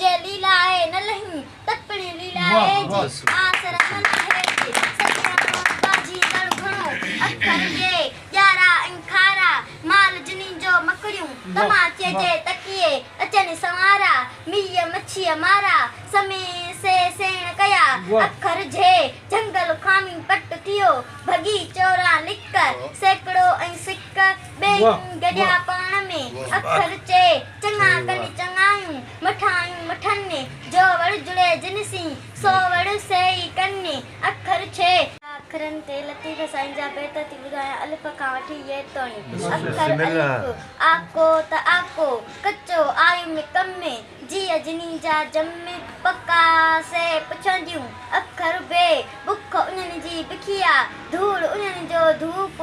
جي ليلا آهي نه لهين تت پڻي ليلا آهي جي آس رسن آهي جي سڄڻ مان ٻاجهي ڪڻ گهڻو اکر جي ڄارا ۽ کارا مال جنين جو مڪڙيون تماچي جي تڪيي اچن سنوارا ميئي مڇيء مارا سمي سي سيڻ ڪيا اکر جي جهنگل خامي پٽ ٿيو ڀڳي چوران لڪ سيڪڙو ۽ سڪ ٻيئي گڏيا پاڻ ۾ اکر چي چڱا ڪري چڱايون، مٺايون مٺن ۾، جو وڙ جڙي جن سين، سو وڙ سيئي ڪن ۾، اکر ڇهه. اکرن تي لطيف سائين جا بيت ٿي ٻڌايان، الف کان وٺي يي توڻي، اکر الف، آڪو ته آڪو، ڪچو، آيم ڪم ۾، جيء جني جا جم ۾، پڪا، سي پڇن جون، اکر بي، بک انهن جي بکيا، ڌوڙ انهن جو ڌوپ،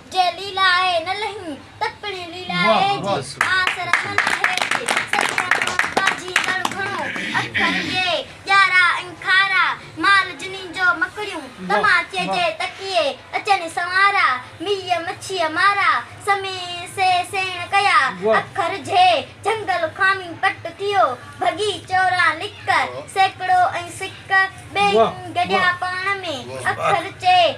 جي ليلا آهي نه لهين ته پڻ ليلا آهي جي آس رسن آهي جي سچي احمد ٻاجهي ڪڻ گهڻو اکر جي ڄارا ۽ کارا مال جنين جو مڪڙيون تماچي جي تڪيي اچن سنوارا ميئي مڇيء مارا سمي سي سيڻ ڪيا اکر جي جهنگل خامي پٽ ٿيو ڀڳي چوران لڪ سيڪڙو ۽ سڪ ٻيئي گڏيا پاڻ ۾ اکر چي